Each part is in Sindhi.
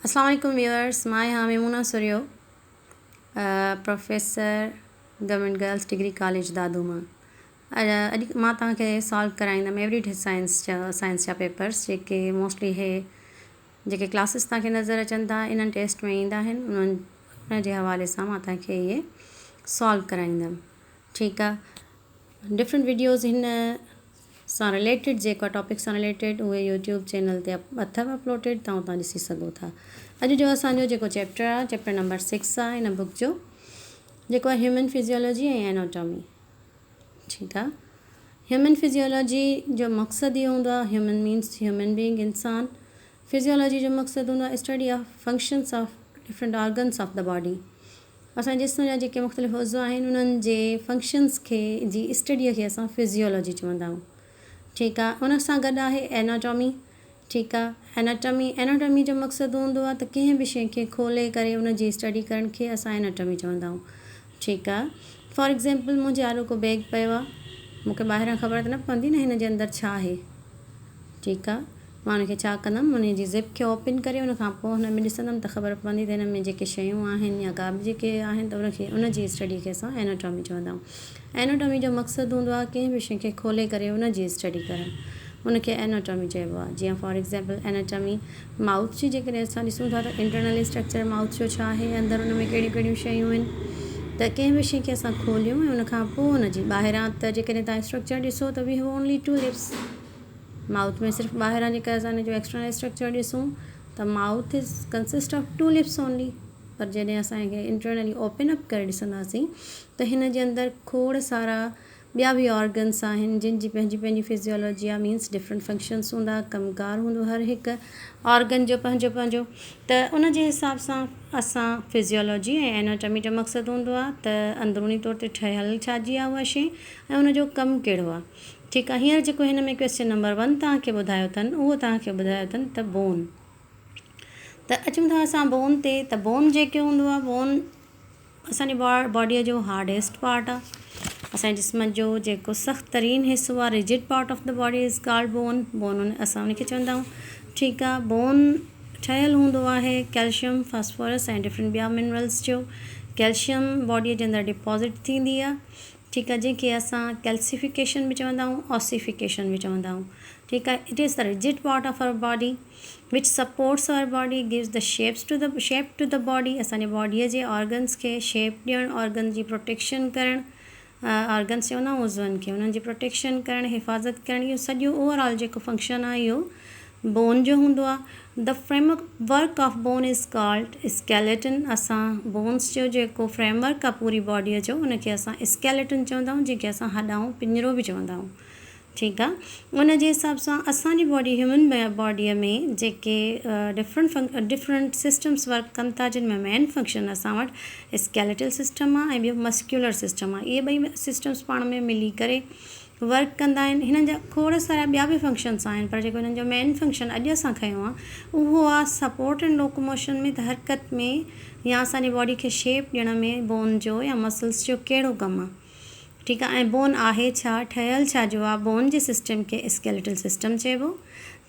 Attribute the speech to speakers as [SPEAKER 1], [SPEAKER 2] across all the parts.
[SPEAKER 1] اسلام عليڪم ويورز مان آهيان Maimoona Sarhio professor government girls degree college Dadu مان اڄ اڄ مان توهان کي سالو ڪرائيندم ايوري ڊي سائنس جا سائنس جا پيپرس جيڪي موسٽلي هي جيڪي ڪلاسز توهان کي نظر اچن ٿا انهن ٽيسٽ ۾ ايندا آهن انهن ان جي حوالي سان مان توهان کي اهي سالو ڪرائيندم ٺيڪ آهي ڊفرنٽ ويڊيوز هن سان رليٽيڊ جيڪا ٽاپڪ سان رليٽيڊ اهي يوٽيوب چينل تي اٿو اپلوڊيڊ تون اتان ڏسي سگهو ٿا اڄ جو اسان جو جيڪو چيپٽر آهي چيپٽر نمبر سڪس آهي هن بڪ جو جيڪو آهي هيومن فزيولوجي ۽ ايناٽامي ٺيڪ آهي هيومن فزيولوجي جو مقصد اهو هوندو آهي هيومن مينس هيومن بينگ انسان فزيولوجي جو مقصد هوندو آهي study of functions of different organs of the body اسان جي جسم جا جيڪي مختلف عضوا آهن انهن جي فنڪشنز کي جي اسٽڊيء کي اسان فزيالاجي چوندا آهيون ٺيڪ آ ان سان گڏ آهي ايناٽامي ٺيڪ آ ايناٽامي ايناٽامي جو مقصد هوندو آ ته ڪنهن به شي کي کولي ڪري ان جي اسٽڊي ڪرڻ کي اسان ايناٽامي چوندا آهيون ٺيڪ آ فار ايگزامپل منهنجي آڏو ڪو بيگ پيو آ مون کي ٻاهران خبر ته نه پوندي نه هن جي اندر ڇا آهي ٺيڪ آ مان ان کي ڇا ڪندم؟ ان جي زپ کي اوپن ڪري ان کان پوء هن ۾ ڏسندم ته خبر پوندي ته هن ۾ جيڪي شيون آهن يا ڪا به جيڪي آهن ته ان کي ان جي اسٽڊي کي اسان Anatomy چوندا آهيون. Anatomy جو مقصد هوندو آهي ڪنهن به شيء کي کولي ڪري ان جي اسٽڊي ڪرڻ. ان کي Anatomy چئبو آهي. جيئن فار ايگزيمپل Anatomy مائوٿ جي جيڪڏهن اسان ڏسون ٿا ته Internal Structure مائوٿ جو ڇا آهي اندر ان ۾ ڪهڙيون ڪهڙيون شيون آهن ته ڪنهن به شيء کي اسان کوليون ۽ ان کان پوء ان جي ٻاهران ته جيڪڏهن توهان اسٽرڪچر ڏسو ته We have only two lips. Mouth ۾ صرف ٻاهران جيڪر اسان ان جو ايڪسٽرنل اسٽرڪچر ڏسون ته mouth is consist of two lips only پر جڏهن اسان کي انٽرنلي اوپن اپ ڪري ڏسنداسين ته هن جي اندر کوڙ سارا ٻيا به آرگنس آهن جن جي پنهنجي پنهنجي فزيولوجي آهي مينس ڊفرنٽ فنڪشنس هوندا ڪم ڪار هوندو هر هڪ آرگن جو پنهنجو پنهنجو ته ان جي حساب سان اسان فزيولوجي ۽ ايناٽمي جو مقصد هوندو آهي ته اندروني طور تي ٺهيل ڇا جي آهي اها شي ۽ ان جو ڪم ڪهڙو آهي ٺيڪ آ هينئر جيڪو هن ۾ ڪويسچن نمبر ون توهان کي ٻڌايو اٿن اهو توهان کي ٻڌايو اٿن ته بون ته اچون ٿا اسان بون تي ته بون جيڪو هوندو آ بون اسان جي باڊيء جو هارڊيسٽ پارٽ آ اسان جي جسم جو جيڪو سخت ترين حصو آ rigid part of the body is called bone bone اسان ان کي چوندا آهيون ٺيڪ آ بون ٺهيل هوندو آهي ڪيلشم فاسفورس ۽ ڊفرنٽ ٻيا منرلس جو ڪيلشم باڊيء جي اندر ڊپوزٽ ٿيندي آ ٺيڪ آهي جنهن کي اسان ڪيلسيفڪيشن به چوندا آهيون اوسيفڪيشن به چوندا آهيون ٺيڪ آهي it is the rigid part of our body which supports our body gives the shapes to the shape to the body اسان جي باڊي جي آرگنس کي شيپ ڏيڻ آرگن جي پروٽيڪشن ڪرڻ آرگنس چوندا آهيون عضون کي انهن جي پروٽيڪشن ڪرڻ حفاظت ڪرڻ اهو سڄو اوور آل جيڪو فنڪشن آهي اهو بون جو هوندو آهي. The framework of bone is called skeleton. اسان بونس جو جيڪو فريم ورڪ آهي پوري باڊيء جو ان کي اسان اسڪيليٽن چوندا آهيون جنهن کي اسان هڏائون پڃرو به چوندا آهيون ٺيڪ آهي ان جي حساب سان اسان جي باڊي هيومن باڊيء ۾ جيڪي ڊفرنٽ ڊفرنٽ سسٽمس ورڪ ڪن ٿا جن ۾ مين فنڪشن اسان وٽ اسڪيليٽل سسٽم آهي ۽ ٻيو مسڪيولر سسٽم آهي اهي ٻئي سسٽمس پاڻ ۾ ملي ڪري ورڪ ڪندا آهن هنن جا کوڙ سارا ٻيا به فنڪشنس آهن پر جيڪو هنن جو مين فنڪشن اڄ اسان کنيو آهي اهو آهي سپورٽ ان لوڪوموشن ۾ ته حرڪت ۾ يا اسان جي باڊي کي شيپ ڏيڻ ۾ بون جو يا مسلس جو ڪهڙو ڪم آهي ٺيڪ آهي ۽ بون آهي ڇا ٺهيل ڇا جو آهي بون جي سسٽم کي اسڪيليٽل سسٽم چئبو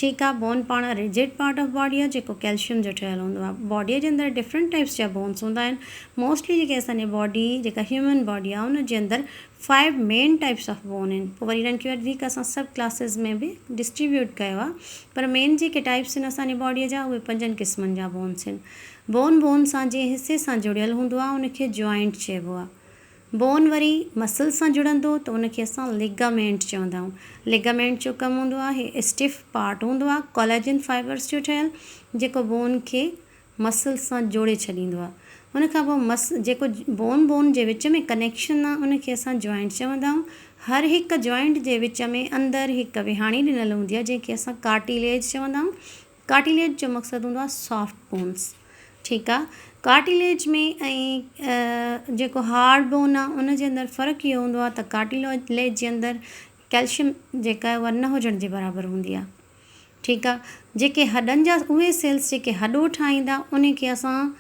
[SPEAKER 1] ٺيڪ آهي بون پاڻ رجڊ پارٽ آف باڊي آهي جيڪو ڪيلشيم جو ٺهيل هوندو آهي باڊي جي اندر ڊفرنٽ ٽائيپس جا بونس هوندا آهن موسٽلي جيڪي اسان جي باڊي جيڪا هيومن باڊي آهي ان جي اندر five main types of bone آهن پوء وري انهن کي وٺي ڪري اسان سب ڪلاسز ۾ به ڊسٽريبيوٽ ڪيو آهي پر مين جيڪي ٽائيپس آهن اسان جي باڊي جا اهي پنجن قسمن جا بونس آهن بون بون سان جنهن حصي سان جڙيل هوندو آهي ان کي جوائنٽ چئبو آهي بون وري مسل سان جڙندو ته ان کي اسان ليگامينٽ چوندا آهيون ليگامينٽ جو ڪم هوندو آهي اسٽف پارٽ هوندو آهي ڪولاجن فائبرس جو ٺهيل جيڪو بون کي مسلز سان جوڙي ڇڏيندو آ ان کان پوء مس جيڪو بون بون جي وچ ۾ ڪنيڪشن آ ان کي اسان جوائنٽ چوندا آهيون هر هڪ جوائنٽ جي وچ ۾ اندر هڪ وهاڻي ڏنل هوندي آ جنهن کي اسان ڪارٽيليج چوندا آهيون ڪارٽيليج جو مقصد هوندو آ سافٽ بونس ٺيڪ آ ڪارٽيليج ۾ ۽ جيڪو هارڊ بون آ ان جي اندر فرق اهو هوندو آ ته ڪارٽيليج جي اندر ڪيلشم جيڪا آهي اها نه هجڻ جي برابر هوندي آ ٺيڪ آ جيڪي هڏن جا اهي سيلز جيڪي هڏو ٺاهيندا انهي کي اسان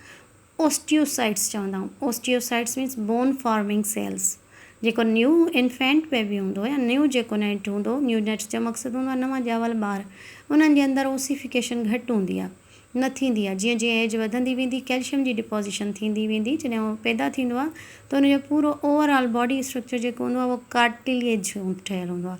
[SPEAKER 1] اوسٽيوسائٽس چوندا آهيون osteocytes means bone forming cells جيڪو نيو انفينٽ بيبي هوندو آهي يا نيو جيڪو نيٽ هوندو نيو نيٽس جو مقصد هوندو آهي نوان ڄاول ٻار انهن جي اندر اوسيفيڪيشن گهٽ هوندي آهي نه ٿيندي آهي جيئن جيئن ايج وڌندي ويندي ڪيلشم جي ڊپوزيشن ٿيندي ويندي جڏهن هو پيدا ٿيندو آهي ته ان جو پورو اوور آل باڊي اسٽرڪچر جيڪو هوندو آهي اهو ڪارٽيليج ٺهيل هوندو آهي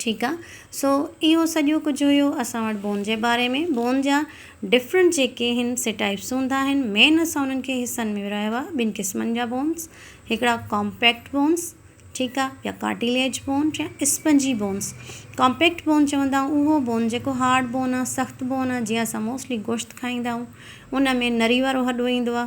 [SPEAKER 1] ٺيڪ آ سو اهو سڄو ڪجهه هيو اسان وٽ بون جي باري ۾ بون جا ڊفرنٽ جيڪي هن سي ٽائپس هوندا آهن مين اسان انهن کي حصن ۾ ورهايو آ ٻن قسمن جا بونس هڪڙا ڪامپيڪٽ بونس ٺيڪ آ يا ڪارٽيليج بون يا اسپنجي بونس ڪامپيڪٽ بون چوندا آهون اهو بون جيڪو هارڊ بون آ سخت بون آ جيئن اسان موسٽلي گوشت کائيندا آهون ان ۾ نري وارو هڏو ايندو آ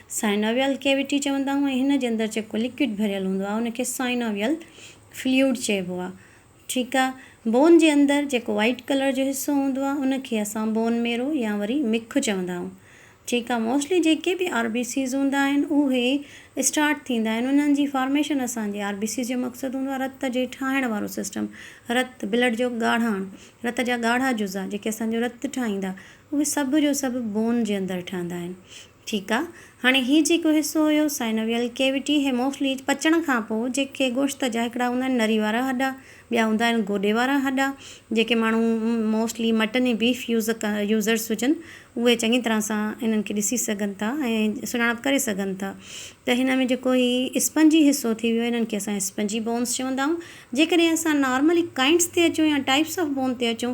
[SPEAKER 1] سائنوويل ڪيوٽي چوندا آهيون ۽ هن جي اندر جيڪو لڪوڊ ڀريل هوندو آهي ان کي سائنوويل فلوئڊ چئبو آهي ٺيڪ آهي بون جي اندر جيڪو وائيٽ ڪلر جو حصو هوندو آهي ان کي اسان بون ميرو يا وري مک چوندا آهيون ٺيڪ آهي موسٽلي جيڪي به آر بي سيز هوندا آهن اهي اسٽارٽ ٿيندا آهن انهن جي فارميشن اسان جي آر بي سيز جو مقصد هوندو آهي رت جي ٺاهڻ وارو سسٽم رت بلڊ جو ڳاڙهاڻ رت جا ڳاڙها جزا جيڪي اسان جو رت ٺاهيندا اهي سڀ جو سڀ بون جي اندر ٺهندا آهن ٺيڪ آ هاڻي هي جيڪو حصو هيو سائنويل ڪيوٽي هي موسٽلي پچڻ کانپو جيڪي گوشت جا هڪڙا هوندا آهن نري وارا هڏا ٻيا هوندا آهن گوڏي وارا هڏا جيڪي ماڻهو mostly mutton ۽ beef use users هجن اهي چڱي طرح سان انهن کي ڏسي سگهن ٿا ۽ سڃاڻپ ڪري سگهن ٿا ته هن ۾ جيڪو هي اسپنجي حصو ٿي ويو انهن کي اسان اسپنجي بونس چوندا آهيون جيڪڏهن اسان نارملي ڪائنٽس تي اچون يا ٽائپس آف بون تي اچون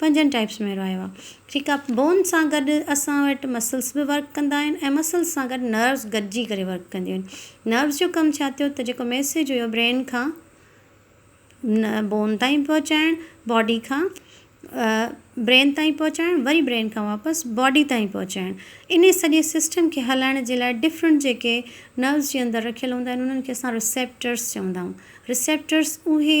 [SPEAKER 1] پنجن ٽائپس ۾ ورايو آهي جيڪا بون سان گڏ اسان وٽ مسلس به ورڪ ڪندا آهن ۽ مسلس سان گڏ نروس گڏجي ڪري ورڪ ڪنديون آهن نروس جو ڪم ڇا ٿيو ته جيڪو ميسيج هيو برين کان بون تائين پهچائڻ باڊي کان برين تائين پهچائڻ وري برين کان واپس باڊي تائين پهچائڻ انهي سڄي سسٽم کي هلائڻ جي لاء ڊفرنٽ جيڪي نروس جي اندر رکيل هوندا آهن انهن کي اسان رسيپٽرس چوندا آهيون رسيپٽرس اهي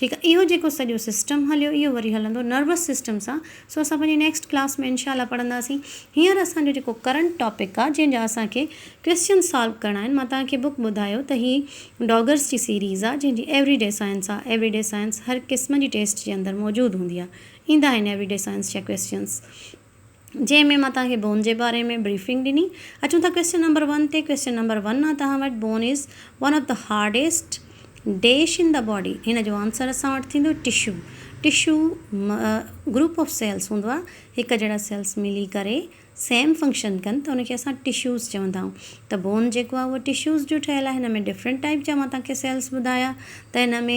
[SPEAKER 1] ٺيڪ آ اهو جيڪو سڄو سسٽم هليو اهو وري هلندو نروس سسٽم سان سو اسان پنهنجي نيڪسٽ ڪلاس ۾ انشاء الله پڙهنداسين هينئر اسان جو جيڪو ڪرنٽ ٽاپڪ آ جنهن جا اسان کي ڪويسچن سالو ڪرڻا آهن مان توهان کي بڪ ٻڌايو ته هي ڊاگرس جي سيريز آ جنهن جي ايوري ڊي سائنس آ ايوري ڊي سائنس هر قسم جي ٽيسٽ جي اندر موجود هوندي آ ايندا آهن ايوري ڊي سائنس جا ڪويسچنس جنهن ۾ مان توهان کي بون جي باري ۾ بريفنگ ڏني. اچون ٿا ڪويسچن نمبر ون تي. ڪويسچن نمبر ون آ توهان وٽ bone is one of the hardest dash in the body هن جو آنسر اسان وٽ ٿيندو tissue tissue group of cells هوندو آ هڪ جهڙا سيلس ملي ڪري سيم فنڪشن ڪن ته ان کي اسان ٽشوز چوندا آهيون ته بون جيڪو آ اهو ٽشوز جو ٺهيل آ هن ۾ ڊفرنٽ ٽائيپ جا مان توهان کي سيلس ٻڌايا ته هن ۾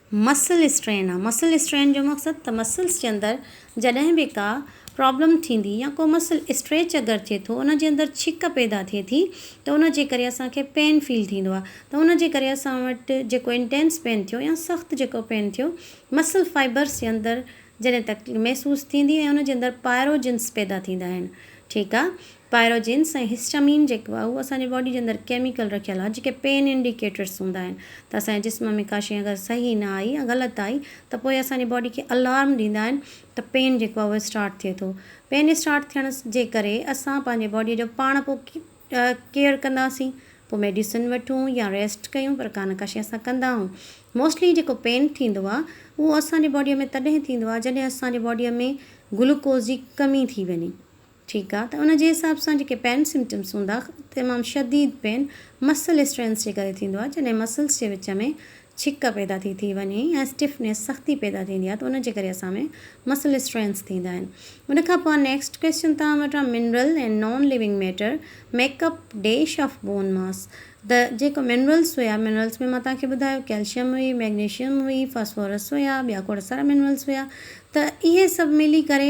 [SPEAKER 1] مسل اسٽرين، مسل اسٽرين جو مقصد ته مسلس جي اندر جڏهن به ڪا پرابلم ٿيندي يا ڪو مسل اسٽريچ اگر ٿئي ٿو ان جي اندر ڇڪ پيدا ٿئي ٿي ته ان جي ڪري اسان کي پين فيل ٿيندو آهي ته ان جي ڪري اسان وٽ جيڪو انٽينس پين ٿيو يا سخت جيڪو پين ٿيو مسل فائبرس جي اندر جڏهن تڪليف محسوس ٿيندي ۽ ان جي اندر پائروجنس پيدا ٿيندا آهن ٺيڪ آهي پائروجنس ۽ هسٽامين جيڪو آهي اهو اسان جي باڊي جي اندر ڪيميڪل رکيل آهي جيڪي پين انڊيڪيٽرس هوندا آهن ته اسان جي جسم ۾ ڪا شيء اگر صحيح نه آئي يا غلط آئي ته پوء اسان جي باڊي کي الارم ڏيندا آهن ته پين جيڪو آهي اهو اسٽارٽ ٿئي ٿو پين اسٽارٽ ٿيڻ جي ڪري اسان پنهنجي باڊي جو پاڻ پوء ڪيئر ڪنداسين پوء ميڊيسن وٺون يا ريسٽ ڪيون پر ڪا نه ڪا شيء اسان ڪندا آهون موسٽلي جيڪو پين ٿيندو آهي اهو اسان جي باڊي ۾ تڏهن ٿيندو آهي جڏهن اسان جي باڊي ۾ گلوڪوز جي ڪمي ٿي وڃي ٺيڪ آ ته ان جي حساب سان جيڪي پين سمپٽمس هوندا تمام شديد پين مسل اسٽرينس جي ڪري ٿيندو آ جڏهن مسلس جي وچ ۾ ڇڪ پيدا ٿي ٿي وڃي ۽ اسٽفنيس سختي پيدا ٿيندي آ ته ان جي ڪري اسان ۾ مسل اسٽرينس ٿيندا آهن ان کان پوء نيڪسٽ ڪويسچن توهان وٽ آ mineral and non living matter make up dash of bone mass ته جيڪو منرلس هيا منرلس ۾ مان توهان کي ٻڌايو ڪيلشم هئي ميگنيشم هئي فاسفورس هيا ٻيا کوڙ سارا منرلس هيا ته اهي سڀ ملي ڪري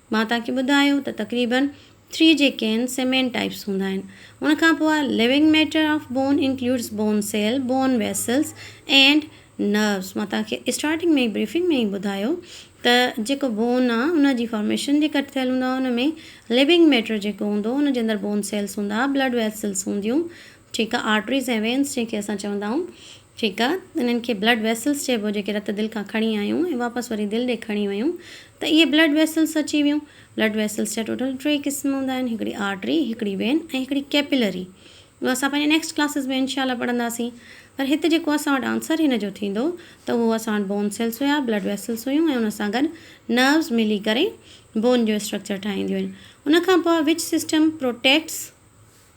[SPEAKER 1] مان توهان کي ٻڌايو ته تقريباً ٽي جي ڪين سيمين ٽائيپس هوندا آهن. ان کان پوء living matter of bone includes bone cell, bone vessels and nerves. مان توهان کي اسٽارٽنگ ۾ ئي بريفنگ ۾ ئي ٻڌايو ته جيڪو بون آهي ان جي فارميشن جي ڪٺ ٿيل هوندو آهي ان ۾ ليونگ ميٽر جيڪو هوندو ان جي اندر بون سيلز هوندا، بلڊ ويسلز هونديون ٺيڪ آهي آرٽريز ۽ وينز جنهن کي اسان چوندا آهيون. ٺيڪ آ انهن کي بلڊ ويسلس چئبو جيڪي رت دل کان کڻي آيون ۽ واپس وري دل ڏي کڻي ويون ته اهي بلڊ ويسلس اچي ويون بلڊ ويسلس جا ٽوٽل ٽي قسم هوندا آهن هڪڙي آرٽري هڪڙي وين ۽ هڪڙي ڪيپيلري اهو اسان پنهنجي نيڪسٽ ڪلاسز ۾ انشاء الله پڙهنداسين پر هت جيڪو اسان وٽ آنسر هن جو ٿيندو ته اهو اسان وٽ بون سيلس هيا بلڊ ويسلس هيون ۽ ان سان گڏ نروز ملي ڪري بون جو اسٽرڪچر ٺاهينديون آهن ان کان پوء وچ سسٽم پروٽيڪٽس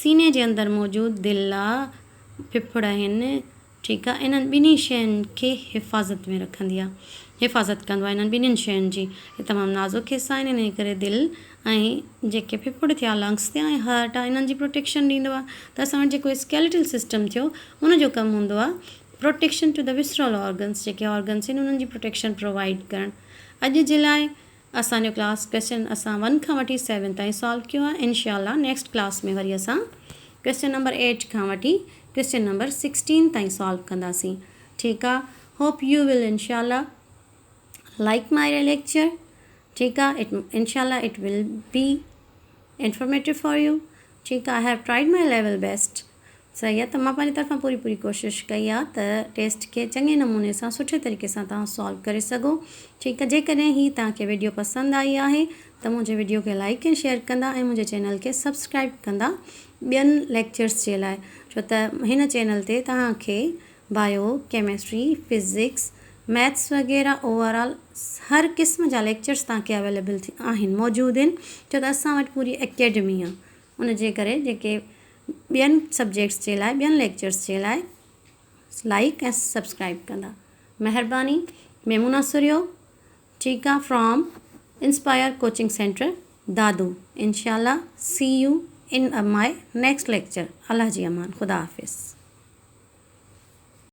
[SPEAKER 1] سيني جي اندر موجود دل آ ڦڦڙ آهن ٺيڪ آ انهن ٻنهي شين کي حفاظت ۾ رکندي آ حفاظت ڪندو آ انهن ٻنهين شين جي هي تمام نازڪ حصا آهن انهي ڪري دل ۽ جيڪي ڦڦڙ ٿيا لنگس ٿيا ۽ هارٽ آ انهن جي پروٽيڪشن ڏيندو آ ته اسان وٽ جيڪو اسڪيليٽل سسٽم ٿيو ان جو ڪم هوندو آ protection to the visceral organs جيڪي آرگنس آهن انهن جي پروٽيڪشن پرووائيڊ ڪرڻ اڄ جي لاء اسان جو ڪلاس ڪويسچن اسان ون کان وٺي سيون تائين سالو ڪيو آهي انشاء الله نيڪسٽ ڪلاس ۾ وري اسان ڪويسچن نمبر ايٽ کان وٺي ڪويسچن نمبر سڪسٽين تائين سالو ڪنداسين ٺيڪ آ هوپ يو ول انشاء الله لائڪ مائي ليڪچر ٺيڪ آ اٽ انشاء الله it will B informative for you ٺيڪ آ I have tried my level best صحيح آ ته مان پنهنجي طرفان پوري پوري ڪوشش ڪئي آ ته ٽيسٽ کي چڱي نموني سان سٺي طريقي سان توهان سالو ڪري سگهو ٺيڪ آ جيڪڏهن هي توهان کي ويڊيو پسند آئي آهي ته منهنجي ويڊيو کي لائيڪ ۽ شيئر ڪندا ۽ منهنجي چينل کي سبسڪرائيب ڪندا ٻين ليڪچرس جي لاء ڇو ته هن چينل تي توهان کي بايو ڪيمسٽري فزڪس ميٿس وغيره اوور آل هر قسم جا ليڪچرس توهان کي اويليبل آهن موجود آهن ڇو ته اسان وٽ پوري اڪيڊمي آ ان جي ڪري جيڪي ٻين سبجيڪٽس جي لاء ٻين ليڪچرس جي لاء لائيڪ ۽ سبسڪرائيب ڪندا مھرباني ميمونا سرھيو ٺيڪ آ from Inspire Coaching Centre Dadu انشاء الله see you in my next lecture الله جي امان خدا حافظ.